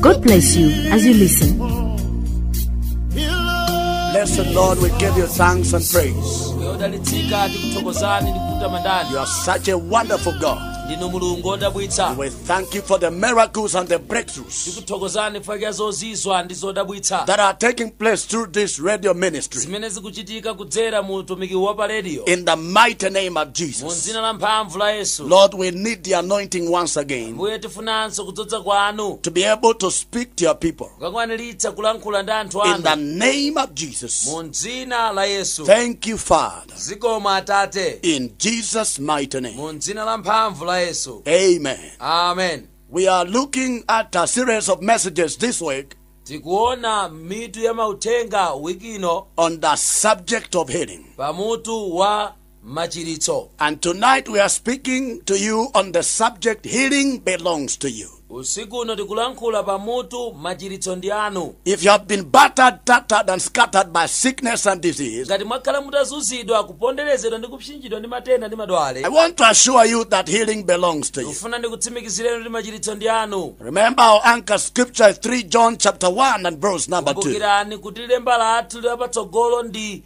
God bless you as you listen. Blessed Lord, we give you thanks and praise. odalitsika tikuthokozani ndi kutamandani You are such a wonderful God. ndinu mulungu odabwitsa We thank you for the miracles and the breakthroughs tikuthokozani chifukwa zozizwa ndi zodabwitsa that are taking place through this radio ministry. zimene zikuchitika kudzera mu utumiki wa pa rediyo In the mighty name of mu Jesus. dzina la mphamvu la yesu Lord, we need the anointing once again. mbuye Tikufunanso kudzodza kwanu to be able to speak to your people kukakwaniritsa kulankhula ndi anthu in the anu name of Jesus. mu dzina la yesu Thank you, Father, zikomo atate in Jesus' mighty name. mu dzina la mphamvu la yesu Amen. amen We are looking at a series of messages this week tikuona mitu ya mauthenga wiki ino on the subject of healing. pamutu wa machiritso And tonight we are speaking to you on the subject healing belongs to you. usiku uno tikulankhula pa mutu machiritso ndi anu If you have been battered, tattered, and scattered by sickness and disease, ngati mwakhala mutazunzidwa kuponderezedwa ndi kupsinjidwa ndi matenda ndi madwale I want to assure you that healing belongs to you. ndikufuna ndikutsimikizireni kuti machiritso ndi anu Remember our anchor scripture is 3 John chapter 1 and verse number 2. kumbukirani kuti lemba lathu lapatsogolo ndi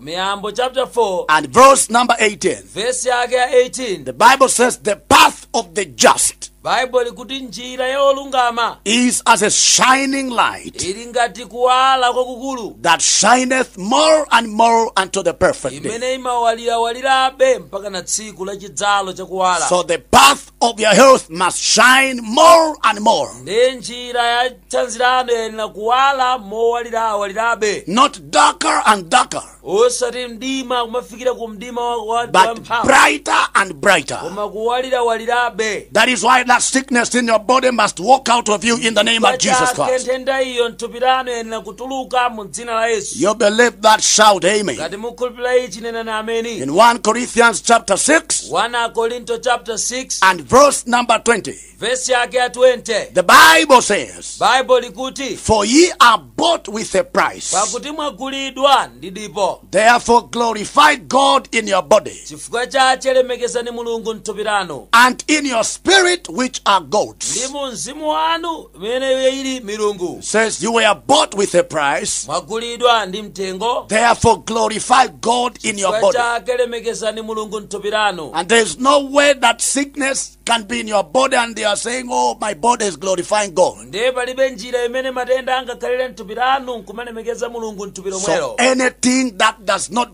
Miyambo chapter 4 and verse number 18. vesi yake ya 18 The Bible says, The path of the just baibulo likuti njira ya olungama is as a shining light ili ngati kuwala kwakukulu that shineth more and more unto the perfect day. imene imawalirawalirabe mpakana tsiku la chidzalo chakuwala So the path of your health must shine more and more. ndiye njira ya thanzi lanu iyenera kuwala mowalirawalirabe Not darker and darker, osati mdima kumafikira ku mdima wa- wa- wa but mphamvu brighter and brighter. koma kuwalirawalirabe That is why that sickness in your body must walk out of you in the name of Jesus pachake Christ. nthenda iyo mthupi lanu iyenera kutuluka mu dzina la yesu You believe that? Shout amen. ngati mukhulupirira ichi nenani ameni In 1 Corinthians chapter 6 1 akorinto chapter 6 and verse number 20, vesi yake ya 20 the Bible says, baibulo likuti For ye are bought with a price. pakuti mwagulidwa ndi dipo Therefore glorify God in your body chifukwa chache lemekezani mulungu mthupi lanu and in your spirit, which are ndi God's. mu mzimu wanu imene iyo ili milungu It says, You were bought with a price, mwagulidwa ndi mtengo therefore glorify God in your chifukwa body. chake lemekezani mulungu mthupi lanu And there is no way that sickness can be in your body and they are saying, Oh, my body is glorifying God. ndiye palibe njira imene matenda angakhalire mthupi lanu nkumalemekeza mulungu mthupi So lomwelo anything that does not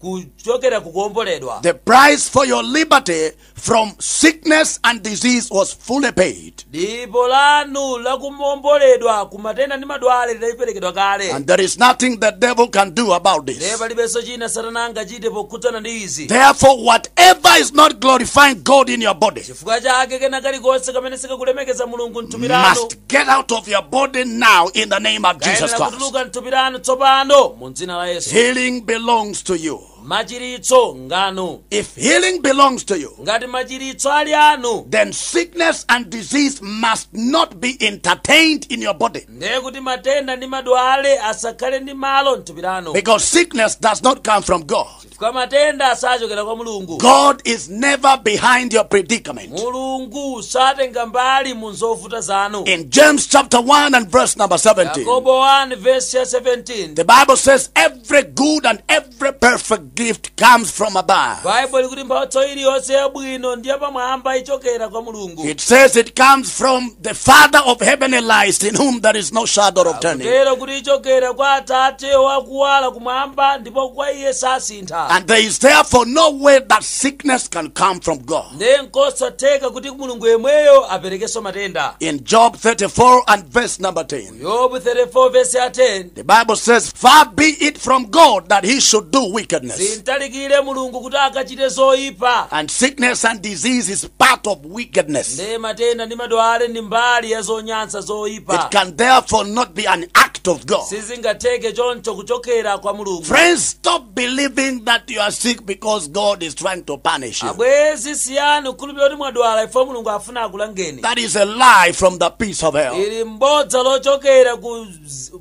kuchokera kukuomboledwa The price for your liberty from sickness and disease was fully paid. dipo lanu lakuomboledwa kumatenda ndi madwale lidaliperekedwa kale And there is nothing the devil can do about this. ndiye palibenso chimene satana angachite pokhudzana ndi izi Therefore, whatever is not glorifying God in your body, chifukwa chake kena kalikonse kamene sikakulemekeza mulungu mthupi lanu must get out of your body now in the name of Jesus Christ. kayenera kutuluka mthupi lanu tsopano mu dzina la yesu Healing belongs to you. machiritso nganu If healing belongs to you, ngati machiritso ali anu then sickness and disease must not be entertained in your body. ndiye kuti matenda ndi madwale asakhale ndi malo mthupi lanu Because sickness does not come from God. chifukwa matenda sachokera kwa mulungu God is never behind your predicament. mulungu satenga mbali mu zovuta zanu In James chapter 1 and verse number 17, yakobo 1 vesi ya 17 the Bible says, Every good and every perfect gift comes from above. baibulo likuti mphatso iliyonse yabwino ndi yapamwamba ichokera kwa mulungu It says it comes from the Father of heavenly lights, in whom there is no shadow of turning. kutero kuti ichokera kwa atate wakuwala kumwamba ndipo kwa iye sasintha And there is therefore no way that sickness can come from God. ndiye nkosatheka kuti mulungu yemweyo aperekenso matenda In Job 34 and verse number 10, yobu 34 vesi ya 10 the Bible says, Far be it from God that he should do wickedness. zimtalikire mulungu kuti akachite zoyipa And sickness and disease is part of wickedness. ndiye matenda ndi madwale ndi mbali ya zonyansa zoyipa It can therefore not be an act of God. sizingatheke choncho kuchokera kwa mulungu Friends, stop believing that you are sick because God is trying to punish you. abwezi siyani kukhulupirira kuti mwadwala chifukwa mulungu afuna akulangeni That is a lie from the pits of hell. ili mbodza lochokera ku z-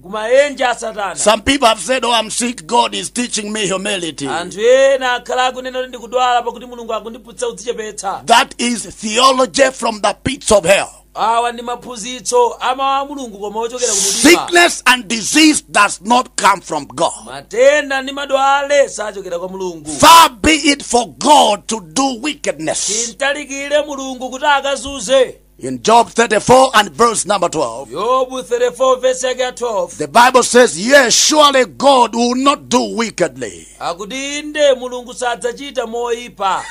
kumaenje a satana Some people have said, Oh, I'm sick. God is teaching me humility. anthu ena akhala akunena kuti ndikudwala pakuti mulungu akundiphunzitsa kudzichepetsa That is theology from the pits of hell. awa ndi maphunzitso a mawu a mulungu koma ochokera kumdima Sickness and disease does not come from God. matenda ndi madwale sachokera kwa mulungu Far be it for God to do wickedness. zimtalikire mulungu kuti akazunze In Job 34 and verse number 12, yobu 34 vesi yake ya 12 the Bible says, Yes, surely God will not do wickedly. akuti inde mulungu sadzachita moyipa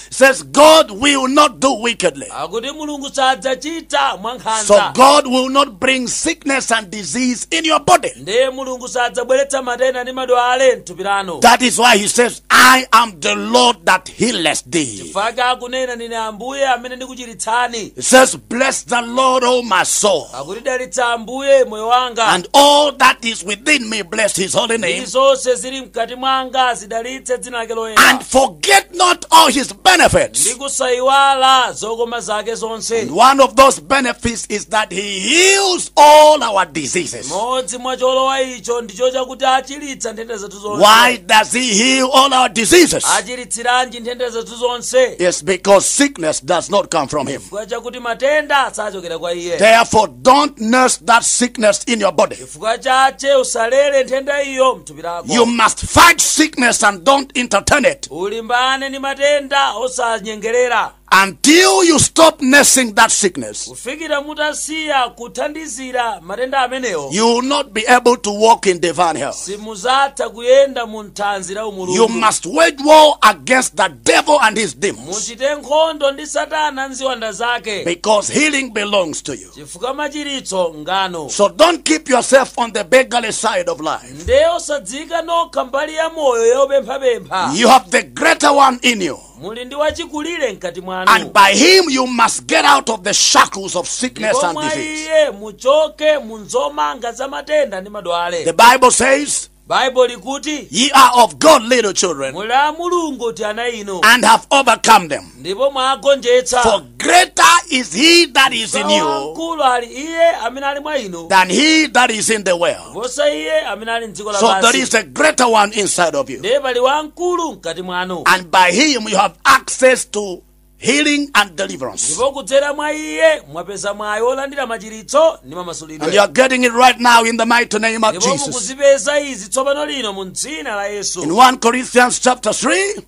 says, God will not do wickedly. akuti mulungu sadzachita mwankhanza So God will not bring sickness and disease in your body. ndiye mulungu sadzabweretsa matenda ndi madwale mthupi lanu That is why he says, I am the Lord that healeth thee. chifukwa akunena ndine ambuye amene ndikuchiritsani It says, Bless the Lord, O my soul, akuti dalitsa ambuye moyo wanga and all that is within me, bless his holy name, ndi zonse zili mkati mwanga zidalitse dzina lake loyera and forget not all his benefits. ndi kusayiwala zokoma zake zonse And one of those benefits is that he heals all our diseases. modzi mwa cholowa icho ndicho chakuti achiritsa nthenda zathu zonse Why does he heal all our diseases? achiritsiranji nthenda zathu zonse It's because sickness does not come from him. chifukwa chakuti matenda sachokera kwa iye Therefore, don't nurse that sickness in your body. chifukwa chache usalere nthenda iyo mthupi lako You must fight sickness and don't entertain it ulimbane ndi matenda osanyengerera until you stop nursing that sickness. kufikira mutasiya kuthandizira matenda amenewo you will not be able to walk in divine health simuzatha kuyenda mu nthanzi la umulungu you must wage war against the devil and his demons muchite nkhondo ndi satana nziwanda zake because healing belongs to you chifukwa machiritso nganu so don't keep yourself on the beggarly side of life ndiye osadziika nokha mbali ya moyo yopemphapempha you have the greater one in you muli ndi wachikulire mkati mwanu And by him you must get out of the shackles of sickness and disease. ndipo mwa iye muchoke mu zomanga za matenda ndi madwale The Bible says, baibo likuti Ye are of God, little children, muli a mulungu tiana inu and have overcome them. ndipo mwagonjetsa For Greater is he that is in you wamkulu ali iye amene ali mwa inu than he that is in the world. kuposa iye amene ali mdziko lapansi So there is a greater one inside of you. ndiye pali wamkulu mkati mwanu And by him you have access to healing and deliverance. ndipo kudzera mwa iye mwapeza mwayi wolandira machiritso ndi mamasulidwe And you are getting it right now in the mighty name of Jesus. ndipo mukuzipeza izi tsopano lino mu dzina la yesu In 1 Corinthians chapter 3,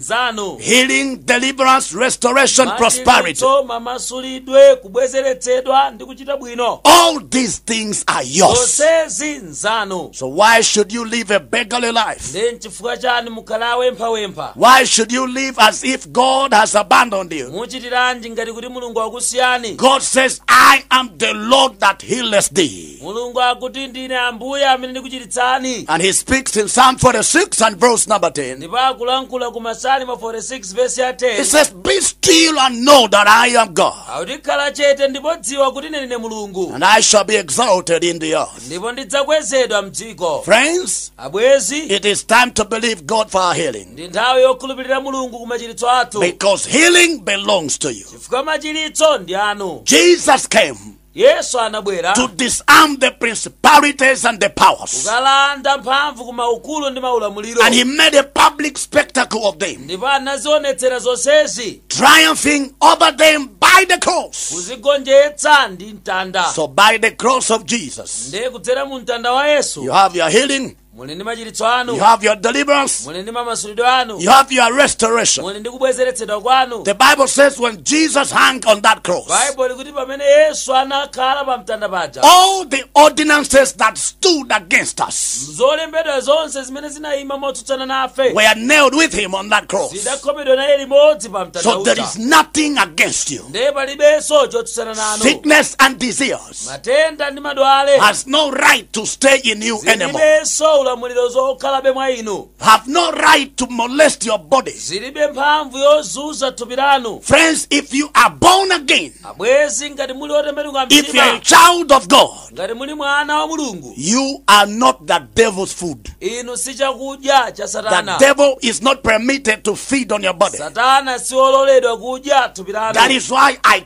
zanu Healing, deliverance, restoration, prosperity. Machiritso, mamasulidwe kubwezeretsedwa ndi kuchita bwino All these things are yours. zonsezi nzanu So why should you live a beggarly life? nde nchifukwa chani mukhala wopemphapempha Why should you live as if God has abandoned you? muchitiranji ngati kuti mulungu wakusiyani God says, I am the Lord that healeth thee. mulungu akuti ndine ambuye amene ndikuchiritsani And he speaks in Psalm 46 and verse number 10. ndipo akulankhula ku masalimo 46 vesi ya 10 He says, Be still and know that I am God, akuti khala chete ndipo dziwa kuti ine ndine mulungu and I shall be exalted in the earth. ndipo ndidzakwezedwa mdziko Friends, abwenzi it is time to believe God for our healing ndi nthawi yokhulupirira mulungu ku machiritso athu because healing belongs to you. chifukwa machiritso ndi anu Jesus came yesu anabwera to disarm the principalities and the powers. kukalanda mphamvu ku maukulu ndi maulamuliro And he made a public spectacle of them, ndipo anazionetsera zonsezi triumphing over them by the cross. kuzigonjetsa ndi mtanda So, by the cross of Jesus, ndiye kudzera mu mtanda wa yesu you have your healing, muli ndi machiritso anu You have your deliverance. muli ndi mamasulidwe anu You have your restoration. muli ndi kubwezeretsedwa kwanu The Bible says when Jesus hung on that cross, baibulo likuti pamene yesu anakhala pa mtanda paja all the ordinances that stood against us zolembedwa zonse zimene zinayima motsutsana nafe were nailed with him on that cross. zidakhomedwa naye limodzi pa mtanda So there uja is nothing against you. ndiye palibenso chotsutsana nanu Sickness and disease. matenda ndi madwale has no right to stay in you anymore. zilibenso ulamuliro wokhalabe mwa inu Have no right to molest your bodies. zilibe mphamvu yozunza thupi lanu Friends, if you are born again, abwezi ngati muli otembenuka if you are a mtima child of God, ngati muli mwana wa mulungu you are not the devil's food. inu si chakudya cha The satana devil is not permitted to feed on your body. satana siololedwa kudya thupi lanu That is why I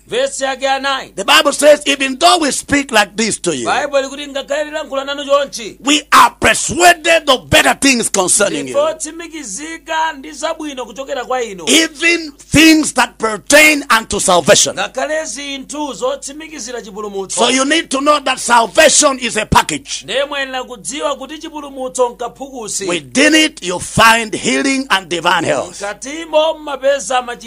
vesi yake ya 9 The Bible says, even though we speak like this to you, baibulo likuti ngakhale tilankhula nanu chonchi we are persuaded of better things concerning you. ndipo tsimikizika ndi zabwino kuchokera kwa inu Even things that pertain unto salvation. ngakhale zinthu zotsimikizira chipulumutso So you need to know that salvation is a package. ndiye muyenera kudziwa kuti chipulumutso nkaphukusi Within it, you find healing and divine health. mkatimo mmapeza machi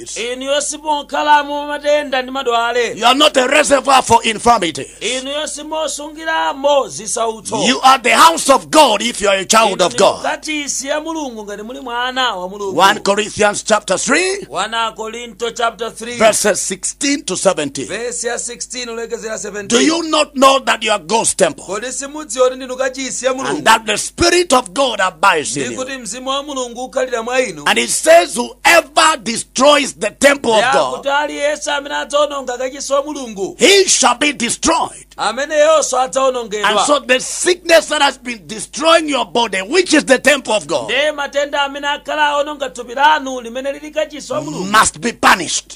disease. inuyo simokhalamo matenda ndi madwale You are not a reservoir for infirmity. inuyo simosungiramo zisautso You are the house of God if you are a child of God. kachisi ya mulungu ngati muli mwana wa mulungu 1 Corinthians chapter 3, 1 korinto chapter 3 verses 16 to 17. vesi ya 16 kulekezera 17 Do you not know that you are God's temple kodi simudziwa kuti ndinu kachisi ya and mulungu that the Spirit of God abides in you? ndikuti mzimu wa mulungu ukhalira mwa inu And it says, Whoever destroys the temple of God, kuti aliyense amene adzaononga kachisi wa mulungu he shall be destroyed. ameneyonso And adzaonongedwa so the sickness that has been destroying your body, which is the temple of God, ndiye matenda amene akhala aononga thupi lanu limene lili kachisi wa mulungu must be punished.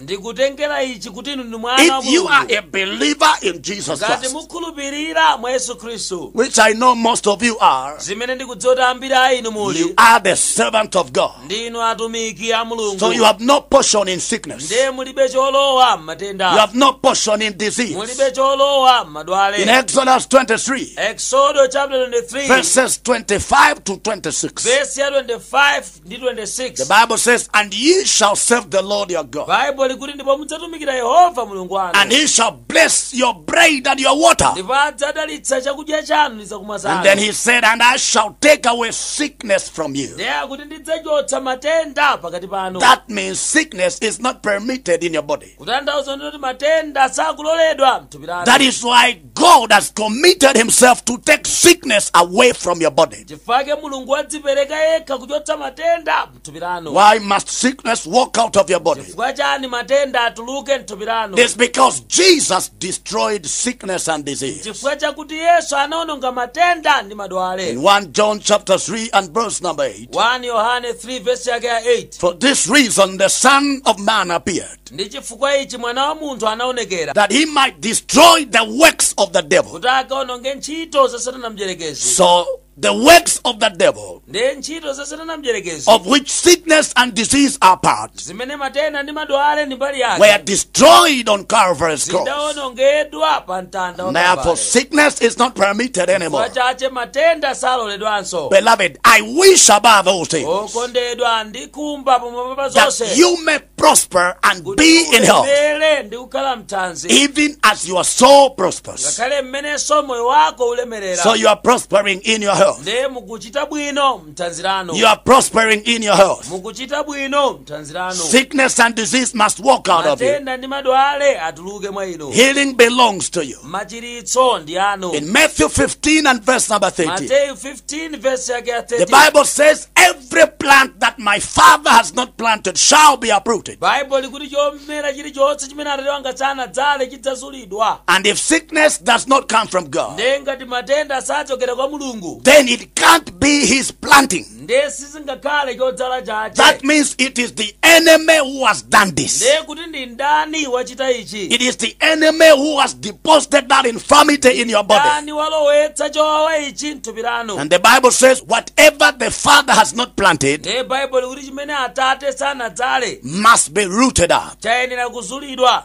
ndikutengera ichi kuti inu ndi mwana wa If you are mulungu a believer in Jesus ngati Christ, mukhulupirira mwa yesu khristu which I know most of you are, zimene ndikudziwa kuti ambiri a inu you muli are the servant of God. ndinu atumiki a mulungu So you have no portion in sickness. ndiye mulibe cholowa You mmatenda have no portion in disease. mulibe cholowa mmadwale In Exodus 23, eksodo chapter 23 verses 25 to 26. vesi ya 25 ndi 26 The Bible says, And ye shall serve the Lord your God, baibulo likuti ndipo mudzatumikira yehova mulungu wanu and he shall bless your bread and your water. ndipo adzadalitsa chakudya chanu ndi zakumwa zanu And then he said, And I shall take away sickness from you. ndiye akuti ndidzachotsa matenda pakati panu That means sickness is not permitted in your body. kutanthauza kunena kuti matenda sakuloledwa mthupi lanu That is why God has committed himself to take sickness away from your body. chifukwa chake mulungu wadzipereka yekha kuchotsa matenda mthupi lanu Why must sickness walk out of your body? chifukwa chani matenda atuluke mthupi lanu It's because Jesus destroyed sickness and disease. chifukwa chakuti yesu anaononga matenda ndi madwale In 1 John chapter 3 and verse number 8. 1 yohane 3 vesi yake ya 8 For this reason the Son of Man appeared, ndi chifukwa ichi mwana wa munthu anaonekera that he might destroy the works of the devil. kuti akaononge ntchito za satana mdyerekezi So the works of the devil, ndiye ntchito za satana mdyerekezi of which sickness and disease are part, zimene matenda ndi madwale ndi mbali yake were destroyed on Calvary's cross. zidaonongedwa pa mtanda wa Kalvari. Therefore, sickness is not permitted anymore. chifukwa chache matenda saloledwanso Beloved, I wish above all things okondedwa ndikhumba pamwamba pa zonse that you may prosper and be in health, kuti ulemere ndi kukhala mthanzi even as your soul prospers. ngakhale mmenenso moyo wako ulemerera So you are prospering in your health. ndiye mukuchita bwino mthanzi lanu You are prospering in your health. mukuchita bwino mthanzi lanu Sickness and disease must walk out of you. matenda ndi madwale atuluke mwa inu Healing belongs to you. machiritso ndi anu In Matthew 15 and verse number 13, mateyu 15 vesi yake ya 13 the Bible says, Every plant that my Father has not planted shall be uprooted. baibulo likuti chomera chilichonse chimene atate wanga sanadzale chidzazulidwa And if sickness does not come from God, ndiye ngati matenda sachokera kwa mulungu then it can't be His planting. ndiye sizingakhale chodzala chache That means it is the enemy who has done this. ndiye kuti ndi mdani wachita ichi It is the enemy who has deposited that infirmity in your body. mdani walowetsa chowawa ichi mthupi lanu And the Bible says, whatever the Father has not planted ndiye baibulo likuti chimene atate sanadzale must be rooted up. chayenera kuzulidwa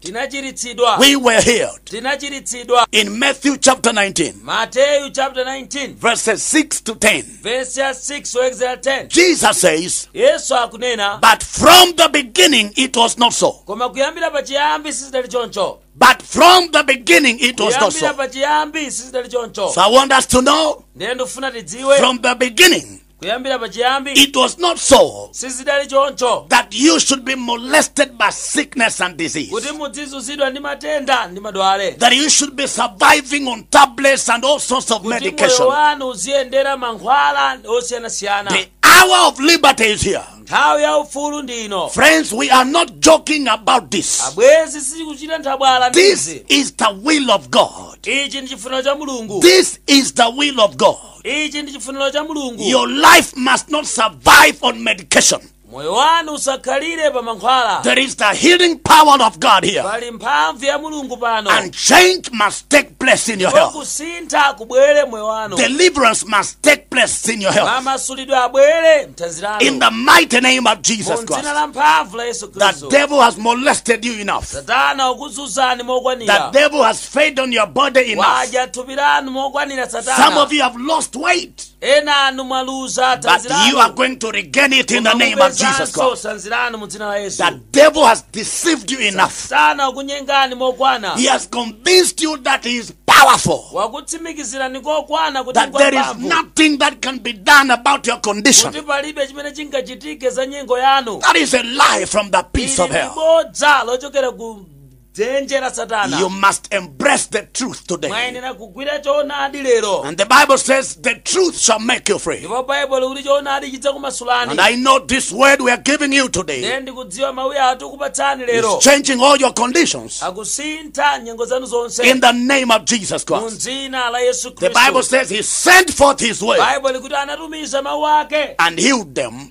tinachiritsidwa We were healed. tinachiritsidwa In Matthew chapter 19, mateyu chapter 19 verses 6 to 10, vesi ya 6 kulekezera 10 Jesus says, yesu akunena But from the beginning it was not so. koma kuyambira pachiyambi sizidali choncho But from the beginning it was not so. kuyambira pachiyambi sizidali choncho So I want us to know ndiye ndikufuna tidziwe from the beginning kuyambira pachiyambi It was not so sizidali choncho that you should be molested by sickness and disease, kuti mudzizunzidwa ndi matenda ndi madwale that you should be surviving on tablets and all sorts of kuti moyo medication. wanu uziyendera mankhwala osiyanasiyana The hour of liberty is here. nthawi ya ufulu ndi ino Friends, we are not joking about this. abwezi sitikuchita nthabwala ndi This izi is the will of God. ichi ndi chifuniro cha mulungu This is the will of God. ichi ndi chifuniro cha mulungu Your life must not survive on medication. moyo wanu usakhalire pa mankhwala There is the healing power of God here. pali mphamvu ya mulungu pano And change must take place in your health. kusintha kubwere mmoyo wanu Deliverance must take place in your health. mamasulidwe abwere mthanzi In lanu the mighty name of Jesus mu dzina Christ. la mphamvu la yesu The khristu devil has molested you enough. satana wakuzuzani The mokwanira devil has fed on your body enough. wadya thupi lanu mokwanira Some satana of you have lost weight, ena anu mwaluza but thanzi you are lanu going to regain it in the Koma name of Jesus mupezanso Christ. thanzi lanu mu dzina la yesu The devil has deceived you enough. satana wakunyengani mokwana He has convinced you that he is powerful, wakutsimikizirani kokwana kuti that there is ngwamphamvu nothing that can be done about your condition. kuti palibe chimene chingachitike za nyengo yanu That is a lie from the pits of ili hell. ndi bodza lochokera ku dzenje la satana You must embrace the truth today. mwayenera kugwira choonadi lero And the Bible says the truth shall make you free. ndipo baibulo likuti choonadi And chidzakumasulani I know this word we are giving you today ndipo ndikudziwa mawu atikupatsani lero is changing all your conditions akusintha nyengo zanu zonse in the name of Jesus mu Christ. dzina la yesu The Bible khristu says he sent forth his word baibulo likuti anatumiza mawu ake and healed them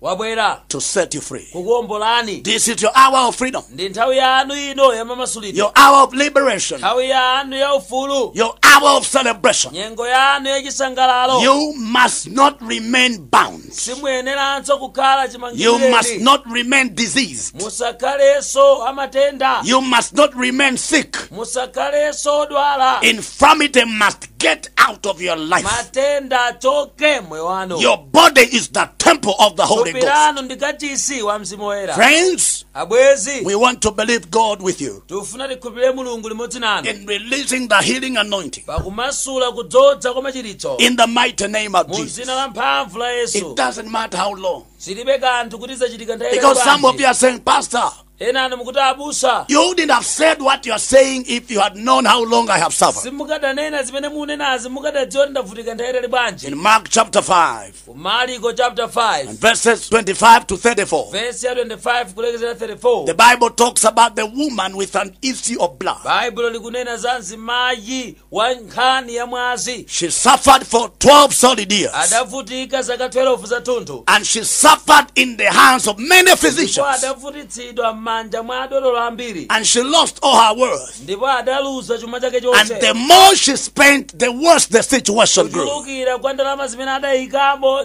wabwera to set you free. kukuombolani This is your hour of freedom, ndi nthawi yanu ino yamamasulidwe your hour of liberation, nthawi yanu ya ufulu your hour of celebration. nyengo yanu ya chisangalalo You must not remain bound. simuyeneranso kukhala You must chimangireni not remain diseased. musakhalenso a matenda You must not remain sick. musakhalenso odwala Infirmity must get out of your life. matenda achoke mmoyo wanu Your body is the temple of the Holy thupi Ghost. lanu ndi kachisi wa mzimu woyera Friends, abwezi we want to believe God with you tifuna tikhulupirire mulungu limodzi nanu in releasing the healing anointing pakumasula kudzodza kwa machiritso in the mighty name of mu Jesus. dzina la mphamvu la It yesu doesn't matter how long. zilibe kanthu kuti zachitika nthawi Because some of you are saying, Pastor, ena inu mukuti abusa You wouldn't have said what you are saying if you had known how long I have suffered. simukadanena zimene mukunenazi mukadadziwa kuti ndavutika nthawi yaitali bwanji In Mark chapter 5, ku mariko chapter 5 verses 25 to 34, vesi ya 25 kulekezera 34 the Bible talks about the woman with an issue of blood. baibulo likunena za mzimayi wa nkhani ya mwazi She suffered for 12 solid years. adavutika zaka 12 zathunthu And she suffered in the hands of many physicians. ndipo adavutitsidwa m'manja mwa adotolo ambiri And she lost all her wealth. ndipo adaluza chuma chake chonse And the more she spent, the worse the situation grew. kuchulukira kwa ndalama zimene adayikamo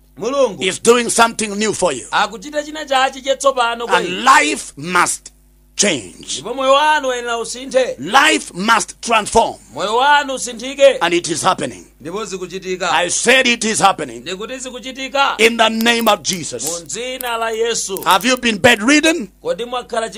mulungu is doing something new for you. akuchita china chake chatsopano kwa inu. And life must change. ndipo moyo wanu uyenera usinthe Life must transform. moyo wanu usinthike And it is happening. ndipo zikuchitika I said it is happening. ndikuti zikuchitika In the name of Jesus. mu dzina la yesu Have you been bedridden? kodi mwakhala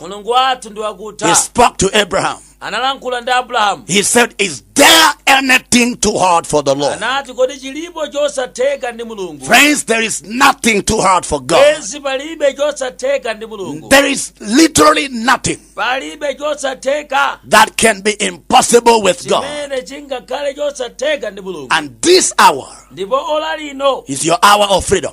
mulungu wathu ndi wakutha He spoke to Abraham. analankhula ndi abrahamu He said, Is there anything too hard for the Lord? anati kodi chilipo chosatheka ndi mulungu Friends, there is nothing too hard for God. bwenzi palibe chosatheka ndi mulungu There is literally nothing palibe chosatheka that can be impossible with God. chimene chingakhale chosatheka ndi mulungu And this hour ndipo ola lino is your hour of freedom.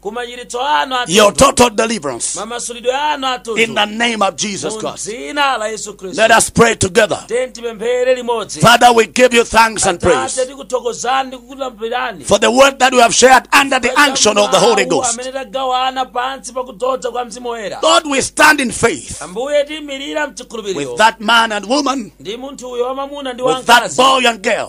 ku machiritso anu athunthu your total deliverance mamasulidwe anu athunthu in the name of Jesus Christ. mu dzina la yesu khristu Let us pray together. tiyeni tipemphere limodzi Father, we give you thanks and praise tate tikuthokozani ndi kukulambirani for the word that we have shared under the unction of the Holy Ghost. amene tagawana pansi pa kudzodza kwa mzimu woyera Lord, we stand in faith ambuye tiimirira mchikhulupiriro with that man and woman, ndi munthu uyo wamamuna ndi wamkazi with that boy and girl,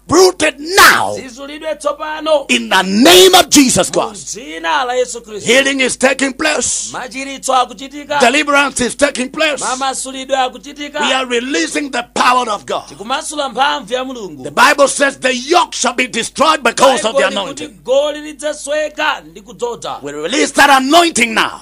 uprooted now zizulidwe tsopano in the name of Jesus Christ. mu dzina la yesu khristu Healing is taking place. machiritso akuchitika Deliverance is taking place. mamasulidwe akuchitika We are releasing the power of God. tikumasula mphamvu ya mulungu The Bible says the yoke shall be destroyed because of the anointing. Baibulo likuti goli lidzasweka ndi kudzodza We release that anointing now.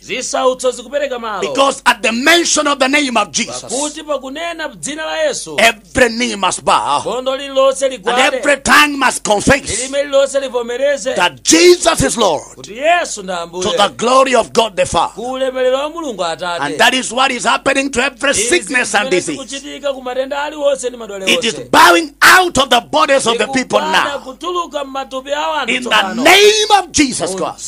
zisautso zikupereka malo Because at the mention of the name of Jesus, pakuti pakunena dzina la yesu every knee must bow bondo lililonse ligwade and every tongue must confess lilime lililonse livomereze that Jesus is Lord kuti yesu ndi ambuye to the glory of God the Father. ku ulemerero wa mulungu atate And that is what is happening to every sickness and disease. Izi zimene zikuchitika ku matenda aliwonse ndi madwale onse It is bowing out of the bodies of the people now. Zikugwada kutuluka m'matupi a anthu tsopano. In the name of Jesus Christ.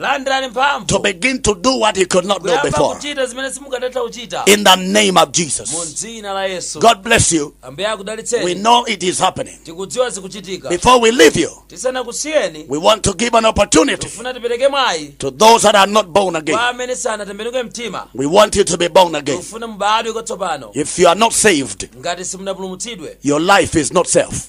landirani mphamvu to begin to do what you could not do before. kuyamba kuchita zimene simukadatha kuchita In the name of Jesus. mu dzina la yesu God bless you. ambuye akudalitseni We know it is happening. tikudziwa zikuchitika Before we leave you, tisanakusiyeni we want to give an opportunity tifuna tipereke mwayi to those that are not born again. kwa amene sanatembenuke mtima We want you to be born again. tifuna mubadwe kwatsopano If you are not saved, ngati simunapulumutsidwe your life is not safe.